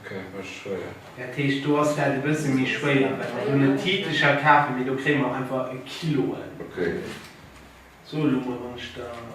Ok, mécht schwéier. Dat heescht, do ass dat e bësse méi schwéier, well mer hunn e Titelcher kafen, mee do kréie mer einfach e Kiloen. Ok. So elo mol, wann ech der en.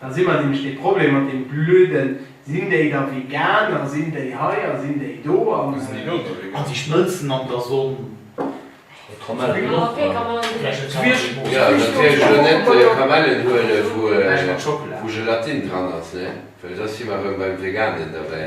Da si mer nämlech dee Problem mat deem blöden, sinn déi da vegan a sinn déi hei a sinn déi do an. An déi schmëlzen an der Sonn. Jo, natierlech elo net Kamellen huele wou Gelatine dran ass, ne, well da si mer erëm beim Veganen derbäi.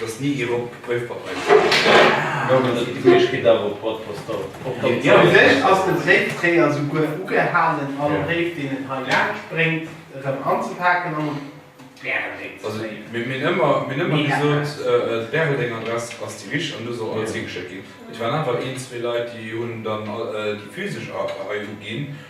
Dass ni ee Rock gepréift mat mengem Fridge. Elo gëtt et de Fridge kee Dach op, wat passt da op dann d'Zäit? Fir mech ass den Séiftréier souguer ugehalen, all Bréif deen en hei laanscht bréngt erëm anzepaken an op d'Bäreldeng ze léien. Mir hunn ëmmer gesot, d'Bäreldeng Adress ass déi richteg an do soll alles higeschéckt ginn. Et waren awer een, zwee Leit, déi hunn dann déi physesch hei uginn.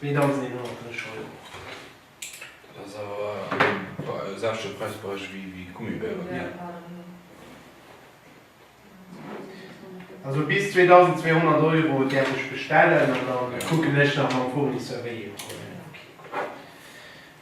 2150 Euro. Dat ass awer e selwechte Präisberäich wéi d'Gummibären, hé? Also bis 2200 Euro däerf ech bestellen an da kucken ech nach mam Fournisseur, wéi ee mer huelen.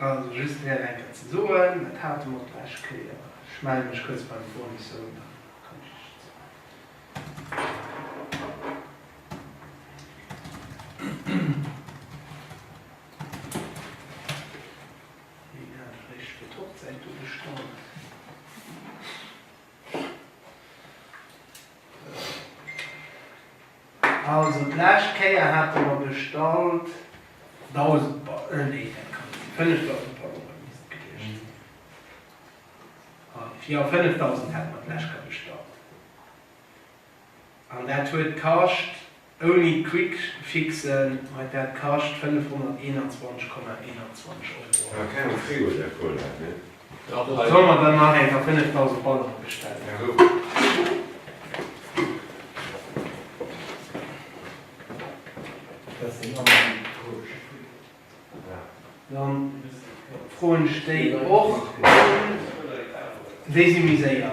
Also just fir nach eng Kéier ze soen, dat hate mer och d'lescht Kéier, ech melle mech kuerz beim Fournisseur un, dann kann ech Iech dat soen. Also d'lescht Kéier hate mer bestallt 1000 Ballon, nee dat kann net sinn, 5000 Ballonen misst et gewiescht sinn. Hallef, jo 5000 hate mer d'lescht Kéier bestallt. An dat huet kascht, ouni d'Quickfixen huet dat kascht 521,21 Euro. Awer keng am Frigo, där Cola, ne? Op soll mer dann nach eng fir 5000 Banneren bestellen? Dat sinn alles déi Posch. Dann froen ech déi och. Déi si méi séier.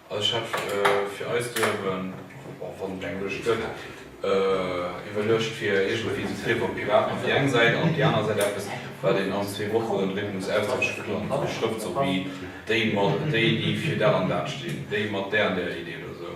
Als Chef fir eis duerwen, och wann et eng Lëscht gëtt, iwwerluecht fir iergendwéi ze trieffe op d'Piraten op déi eng Säit an op déi aner Säit eppes, wat een als Zweewocherenrhythmus ausdrécklech geplangt huet, Schrëft sou wéi déi mat déi, déi fir dat an dat stinn, déi mat där an där Idee oder sou.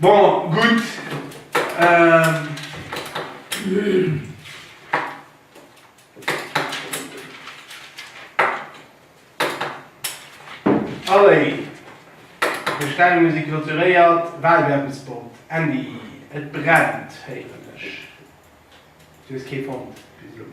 Bon, gutt. Allez, Bestellung si clôturéiert. Wahlwerbespot, Andy, et brennt, héieren ech. Du hues kee fonnt bis elo?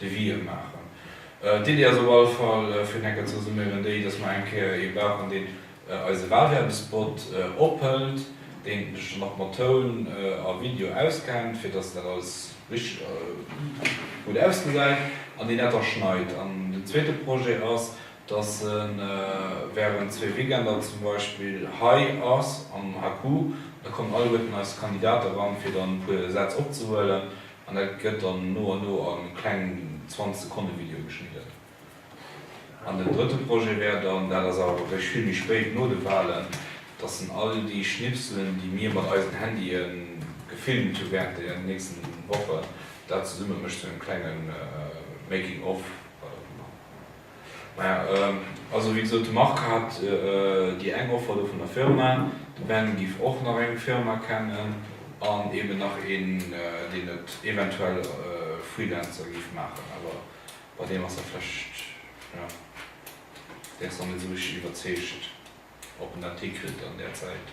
de Wien maachen. D'Iddi ass op alle Fall, fir enker ze resuméieren, déi, dass mer eng Kéier ee brauchen, deen eise Walwerbespot ophëlt, deen sech dann och mat Toun a Video auskennt, fir dass dat alles richteg a gutt ausgesäit, an deen dat da schneit. An den zweete Projet ass, dass e während zwee Weekender zum Beispill hei ass am HQ, da kommen alleguerten eis Kandidate ran, fir dann e puer Sätz opzehuelen, An da gëtt dann no an no a kleng 20 Sekonne Video geschnidden. An den drëtte Projet wär dann, dat ass awer wierklech vill méi spéit no de Walen, dass en all déi Schnipselen, déi mir mat eisen Handye gefilmt hu während der nächsten Wochen, dat zesumme mécht, sou en klenge Making of, wat och ëmmer. Maja, also wéi gesot, de Marc hat déi eng Offer do vun der Firma, de Ben giff och nach eng Firma kennen an eben nach een deen et eventuell Freelancer giff maachen, awer bei deem ass dat vläicht, jo, dee ass nach net esou richteg iwwerzeegt ob en dat hikritt an där Zäit.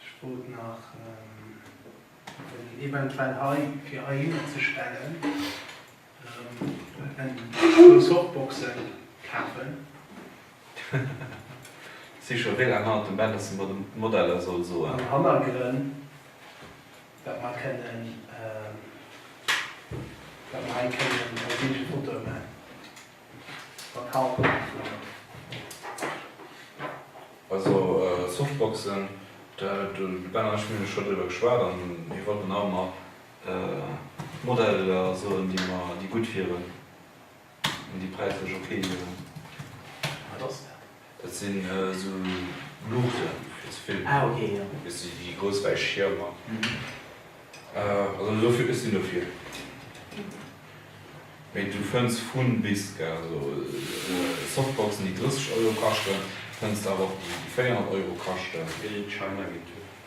Ech wollt nach den eventuell hei fir heihinner ze stellen en puer Softboxen kafen. Si scho wéi laang hannert dem Ben, dass en mer de Modeller soll soen? Am Hannergrënn, dat mer kënnen, dat mer hei kënnen eng Bildfoto man. Also Softboxen, de Ben an ech hunn jo scho driwwer geschwat an mir wollten haut nach Modeller soen, déi mer, déi gutt wieren an déi präislech ok wieren. Dat sinn esou Luuchten, déi ze filmen. Ah ok, jo. Dat si déi grouss wäiss Schiermer. Also esou vill, ech sinn dofir. Mee du fënns vun bis, gell. Also Softboxen, déi 30 Euro kaschten, fënns de awer och déi 400 Euro kaschten. Déi China Gear.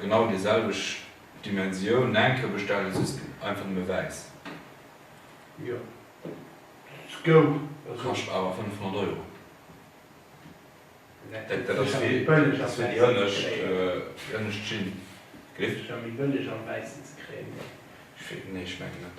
genau déi selwecht Dimensioun Nenke bestellen just einfach nëmme wäiss. Jo se goung also. Kascht awer 500 Euro. Dat dat ass wéi ass wéi déi ënnescht déi ënnescht Schinn. Gif. Ass secher méi bëlleg am wäissen ze kréien oder? Nee ech mengen net.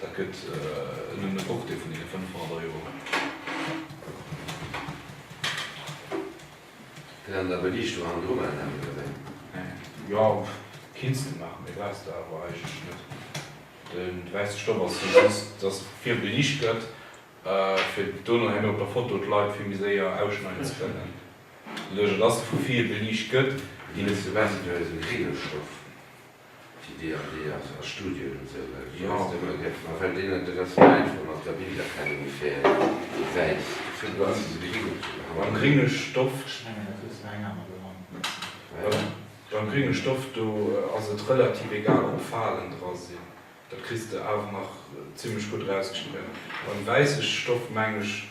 Dat gëtt en ëm e Foftel vun deene 500 Euro. Fir an der Beliichtung an dru maachen, Här Myerveen? Jo, kinns de maachen, mee brauchs de awer eigentlech net. De wäisse Stoff ass jo just, dass vill beliicht gëtt, fir dono herno op der Foto d'Leit vill méi séier ausschneiden ze kënnen, doduerch dass vu ville beliicht gëtt. Fir déi net ze wäissen, do ass e grénge Stoff. Déi DAD ass a Studien un sou Leit wéi eis dëmmer gëtt, ma well deenen et e bessen einfach mat der Bilderkennung fält, déi wäiss ze behandelen. Beim gringe Stoft do ass et relativ egal ob Falen dra sinn, dat kriss de awer nach zimlech gutt erausgeschnidden. Beim wäisse Stoft meng ech.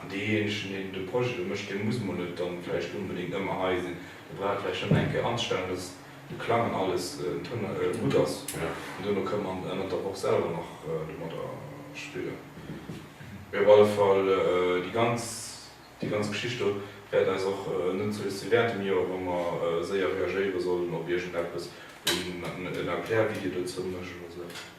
An deejéinegen, deen de Projet do mécht, dee muss mol net dann vläicht onbedéngt ëmmer hei sinn. Dee brauch vläicht nëmmen eng Kéier anzestellen, dass de Klang an alles en Toun gutt ass. An duerno kënne mer ënnert der Woch selwer nach domadder spillen. Mee op alle Fall, déi ganz, déi ganz Geschicht do wäert eis och net zulescht si wäert dem Joer, wa mer séier reagéiere sollen op iergendeppes, wéi en Erklärvideo dozou méchen oder esou eppes.